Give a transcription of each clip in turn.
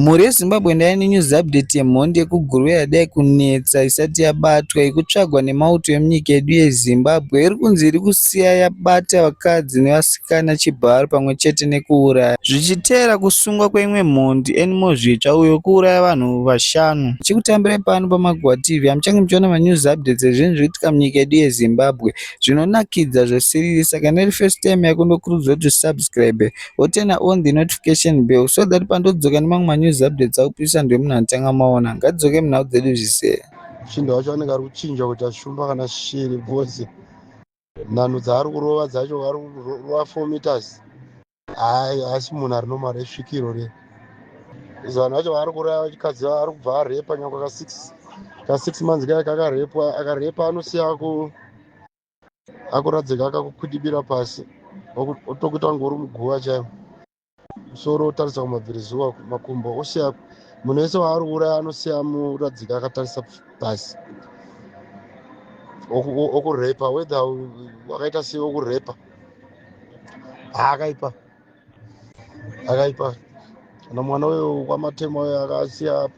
Mhuri yeZimbabwe ndaive nenews update yemhondi yekuGuruve yadai kunetsa isati yabatwa yekutsvagwa nemauto emunyika yedu yeZimbabwe iri kunzi iri kusiya yabata vakadzi nevasikana chibharo pamwe chete nekuuraya zvichitevera kusungwa kweimwe mhondi Anymore Zvitsva uyo wekuuraya vanhu vashanu. Tichikutambirai pano paMagua TV hamuchange muchiona manews updates ezvinhu zviri kuitika munyika yedu yeZimbabwe zvinonakidza zvesiriri saka kana iri first time yako ndokurudzira kuti usubscribe woturn on the notification bell so that pandodzoka nemamwe manews updates akupisa ndiwe munhu anotanga maona ngadzoke munhau dzedu zvisere chinda wacho anenge ari kuchinja kuti ashumba kana shiri because nhanhu dzaari kurova dzacho ari kurova four meters hayi asi munhu ari nomari esvikiro re vanhu vacho vaari kuraya vachikadzi ari kubva arepa nyangwe ka six ka six months kaya kakarepwa akarepa anosiya ku akuradzika akakukwidibira pasi otokuita kunge uri muguva chaivo musoro otarisa kumabvirizuva makumbo osiya munhu wese waari kuuraya anosiya muradzika akatarisa pasi okurepa wether wakaita sei okurepa haakaipa akaipa kana mwana uyo kwamatema uyo akasiya apa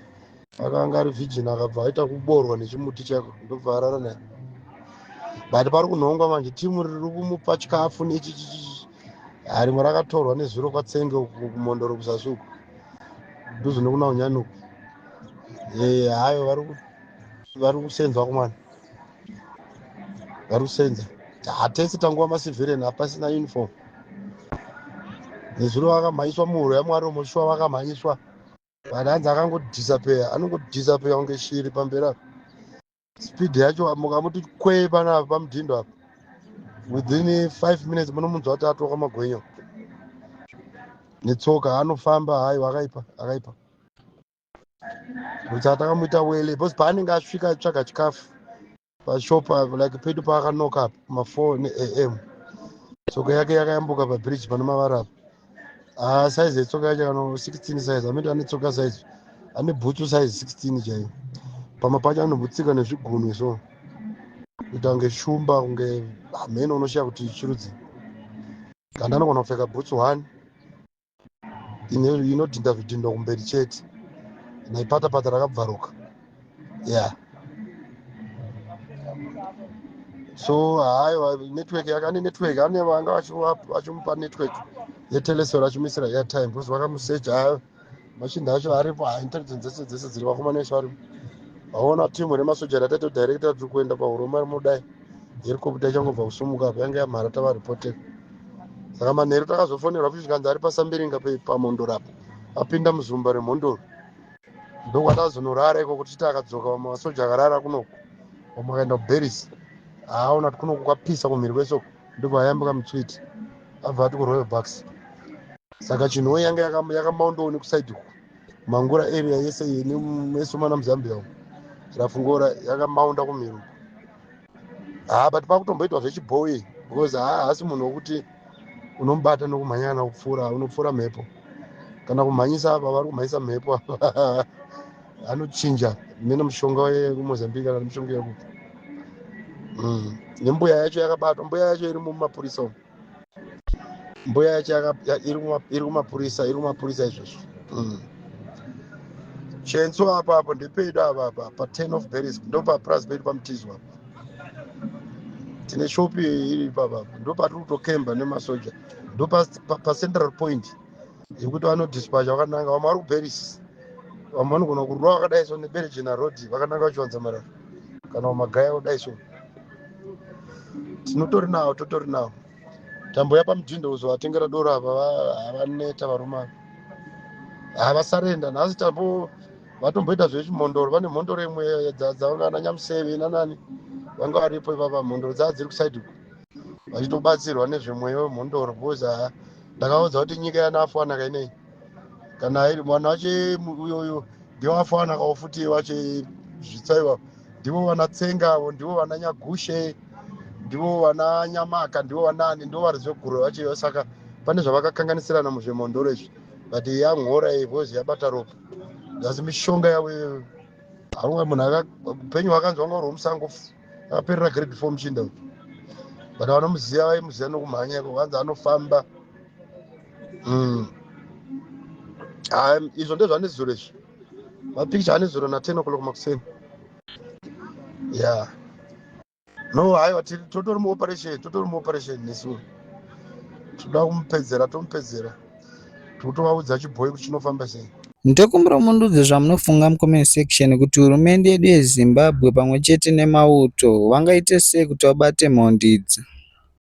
akanga ari virgin akabva aita kuborwa nechimuti chako ndobva arara naye but pari kunhongwa manje timu riri kumupa chikafu nechichichi rimwe rakatorwa nezuro kwatsenge uku kumondoro kuzasi uku nduzo nekuna unyani uku eh, hayo vari kusenzwa kumwana varusenza hatese tanguva masivheren hapasina uniform nezuro vakamhanyiswa muhuro yamwari omoshuwa vakamhanyiswa but hanzi akangodhisapeya anongodhisapeya kunge shiri pamberi apo speed yacho mukamuti kwee panapa pamudhindo apo within five minutes munomunzwa kuti atoka magwenyo netsoka anofamba hayi akaipa akaipa Musa takamuita wele because paanenge asvika atsvaga chikafu pashop apo like pedu paakanoka apo mafour neam tsoka yake yakayambuka pabridge pane mavara apo ah, size yetsoka yacho kano 16 size amiti ane tsoka size ane bhutsu size 16 chaiyo pamwe pacho anobutsika nezvigunwe so kuita kunge shumba kunge hameno unoshiya kuti chirudzi kanda anogona kupfeka bhutsu one inodhinda zvidhindo kumberi chete naipatapata rakabvaruka ya so haiwa network yakane network ane vanga vachimupa network yetelesor achimuisira airtime because vakamusecha hayo machinda acho aripo ha intelligence dzese dzese dziri vakomana vesu varipo vaona timu remasoja ratatodirect atiri kuenda pahuromari mudai herikoputa ichangobva kusumuka apa yanga yamhara tava reported saka manheru takazofonerwa futi zvikanzi ari pasambiringa pamhondoro apa apinda muzumba remhondoro ndokwatazonorara ikoko tichiti akadzoka vamwe vasoja akarara kunoku vamwe akaenda kuberisi haaona kuti kunoku kwapisa kumhiri kwesoko ndobva ayambuka mutswiti abva ati kuroyal bucks saka chinhoyi yanga yakamaondooni kusaidi uku mangura area yese iyi nemesomana muzambia umu rafungora yakamaunda kumiro haa ah, but pakutomboitwa zvechibhoyi because haa hasi munhu wokuti unomubata nokumhanyana kupfuura unopfuura mhepo kana kumhanyisa apa vari kumhanyisa mhepo apa anochinja mene mushonga wekumozambique kana mushonga yekuti mm. nembuya yacho yakabatwa mbuya yacho iri mumapurisa umu mbuya yacho iri kumapurisa iri kumapurisa izvozvo mm. chenso apa apo ndepedu ava apa paten of beris ndopapurazi pedu pamutizi apa tine shopi iri ipapa ndopatiri kutokemba nemasoja ndopacentral point yekuti vanodispacha vakananga vamwe vari kuparis vamwe vanogona kurwa vakadai so nebergina road vakananga vachiwanza marara kana vamagaya kudai so tinotori nawo totori nawo tambo yapamudhindo uzovatengera doro apa havaneta varume ava havasarenda nhasi tambo vatomboita zvechimhondoro vane mhondoro imwe dzavanga ana nyamuseve nanani vanga varipo ipapa mhondoro dzava dziri kusaidi uku vachitobatsirwa nezvemweya wemhondoro because haa ndakaudza kuti nyika yanafanaka inei kana iri mwana wache uyo uyo ndiwo afanaka ofuti wache zvitsaiwa ndivo vana tsenga avo ndivo vana nyagushe ndivo vana nyamaka ndivo vanaani ndivo vari zveguro vacheyo saka pane zvavakakanganisirana muzvemhondoro izvi but yamhora ivozi yabata ropa asi mishonga yavo iyoyo haunga munhu upenyu hwakanzwa ngauri hwemusango aperera grade four muchinda uyu but vanomuziva vaimuziva nokumhanya iko vanzi anofamba mm. izvo ndezvanezuro izvi mapicture anezuro naten o'clock makuseni ya yeah. no haiwa totori muoperation totori muoperation nesu toda kumupedzera tomupedzera totovaudza chibhoyi kuti chinofamba sei ndokumbira mundudze zvamunofunga mucomment section kuti hurumende yedu yezimbabwe pamwe chete nemauto vangaite sei kuti vabate mhondi idzi